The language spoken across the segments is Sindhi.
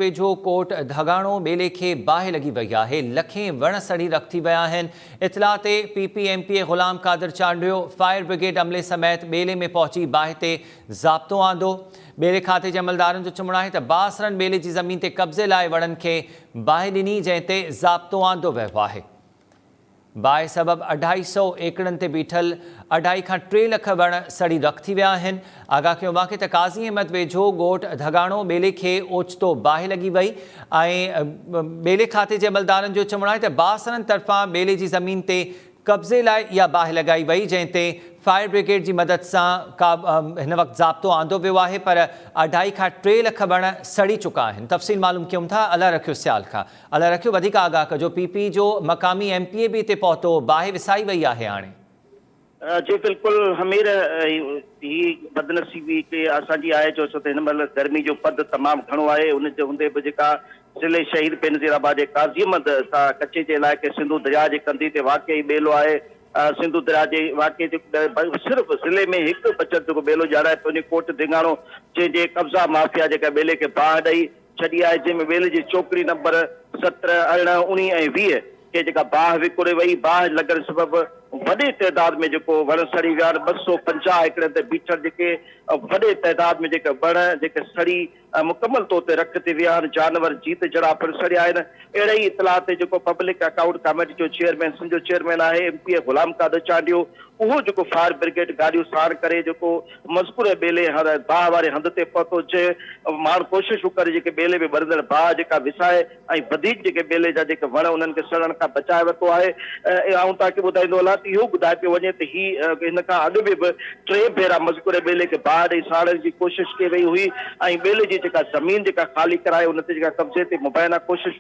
ويجهو ڪوٽ ڌڳاڻو ٻيلي کي باهه لڳي وئي آهي، لکين وڻ سڙي رک ٿي ويا آهن، اطلاع تي P P M P A Ghulam Qadir Chandio fire brigade عملي سميت ٻيلي ۾ پهچي باهه تي ضابطو آندو، ٻيلي کاتي جي عملدارن جو چوڻ آهي ته بااثرن ٻيلي جي زمين تي قبضي لاء وڻن کي باهه ڏني جنهن تي ضابطو آندو ويو آهي. باهه سبب اڍائي سؤ ايڪڙن تي بيٺل اڍائي کان ٽي لک وڻ سڙي رک ٿي ويا آهن. آگاهه ڪيو ويو آهي ته قاضي احمد ويجهو ڳوٺ ڌڳاڻو ٻيلي کي اوچتو باهه لڳي وئي ۽ ٻيلي کاتي جي عملدارن جو چوڻ آهي ته باسرن طرفان ٻيلي جي زمين تي قبضي لاء اها باهه لڳائي وئي جنهن تي فائر بريگيڊ جي مدد سان هن وقت ضابطو آندو ويو آهي پر اڍائي کان ٽي لک وڻ سڙي چڪا آهن تفصيل معلوم ڪيون ٿا الله رکيو سيال کان الله رکيو وڌيڪ آگاهه ڪجو. پي پي جو مقامي ايم پي اي به اتي پهتو باهه وسائي وئي آهي هاڻي. جي بلڪل همير هي بدنصيبي ڪي اسان جي آهي جو ڇو ته هن مهل گرمي جو پد تمام گهڻو آهي ان جي هوندي به جيڪا ضلعي شهيد بينظير آباد جي قاضي احمد سان ڪچي جي علائقي سنڌو درياء جي ڪنڌي تي واقع هي ٻيلو آهي سنڌو درياء جي واقع جي صرف ضلعي ۾ هڪ بچل جيڪو ٻيلو ڄاڻائي پوندي ڪوٽ ڌينگاڻو جنهن جي قبضا مافيا جيڪا ٻيلي کي باهه ڏئي ڇڏي آهي، جنهن ۾ ويل جي چوڪڙي نمبر سترهن، ارڙهن، اڻيهه ۽ ويهه کي جيڪا باهه وڪوڙي وئي، باهه لڳڻ سبب وڏي تعداد ۾ جيڪو وڻ سڙي ويا آهن، ٻه سؤ پنجاهه ايڪڙن تي بيٺل جيڪي وڏي تعداد ۾ جيڪي وڻ جيڪي سڙي مڪمل طور تي رک ٿي ويا آهن، جانور جيت جھڙا پڻ سڙيا آهن، اهڙي ئي اطلاع تي جيڪو پبلڪ اڪائونٽ ڪاميٽي جو چيئرمين سنڌ جو چيئرمين آهي M P A Ghulam Qadir Chandio اهو جيڪو فائر برگيڊ گاڏيون ساڻ ڪري جيڪو مذڪوره ٻيلي هر باهه واري هنڌ تي پهتو جي ماڻهو ڪوشش به ڪري جيڪي ٻيلي ۾ ٻرندڙ باهه جيڪا وسائي ۽ وڌيڪ جيڪي ٻيلي جا جيڪي وڻ انهن کي سڙڻ کان بچائي ورتو آهي آئون تاڪي ٻڌائيندو هلان ته اهو ٻڌائي پيو وڃي ته هي هن کان اڳ به به ٽي ڀيرا مذڪوره ٻيلي کي باهه ڏئي ساڙڻ جي ڪوشش ڪئي وئي هئي ۽ ٻيلي جي جيڪا زمين جيڪا خالي ڪرائي ان تي جيڪا قبضي تي مبينا ڪوشش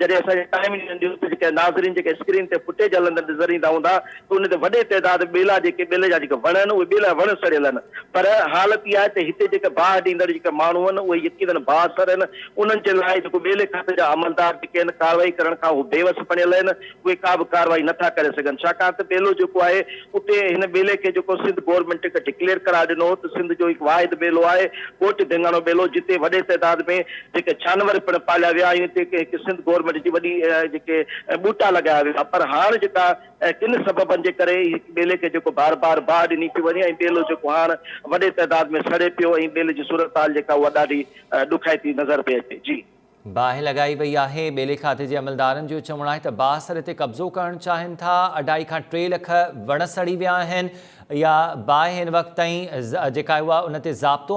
جڏهن اسان جي ٽائيم انڊيا نيوز تي جيڪي ناظرين جيڪي اسڪرين تي فٽيج هلندڙ نظر ايندا هوندا ته ان تي وڏي تعداد ٻيلا جيڪي ٻيلي جا جيڪي وڻ آهن اهي ٻيلا وڻ سڙيل آهن پر حالت اها آهي ته هتي جيڪي باهه ڏيندڙ جيڪي ماڻهو آهن اهي يقينن باهه سر آهن انهن جي لاء جيڪو ٻيلي کاتي جا عملدار جيڪي آهن ڪارروائي ڪرڻ کان اهي بيوس بڻيل آهن اهي ڪا به ڪارروائي نٿا ڪري سگهن ڇاڪاڻ ته ٻيلو جيڪو آهي اتي هن ٻيلي کي جيڪو سنڌ گورنمينٽ هڪ ڊڪليئر قرار ڏنو هو ته سنڌ جو هڪ واحد ٻيلو آهي ڳوٺ ڌينگاڻو ٻيلو جتي وڏي تعداد ۾ جيڪي ڇانور پڻ پاليا ويا ۽ اتي هڪ سنڌ گورنمينٽ جي وڏي جيڪي ٻوٽا لڳايا ويا پر هاڻ جيڪا ڪن سببن جي ڪري هڪ ٻيلي کي جيڪو بار بار باهه ڏني پئي وڃي ۽ ٻيلو جيڪو هاڻ وڏي تعداد ۾ سڙي پيو ۽ ٻيلي جي صورتحال جيڪا اها ڏاڍي ڏکائتي نظر پئي اچي جي. باهه لڳائي وئي آهي، ٻيلي کاتي جي عملدارن جو چوڻ آهي ته باهه سري تي قبضو ڪرڻ چاهين ٿا، اڍائي کان ٽي لک وڻ سڙي ويا آهن، اها باهه هن وقت تائين جيڪا اها ان تي ضابطو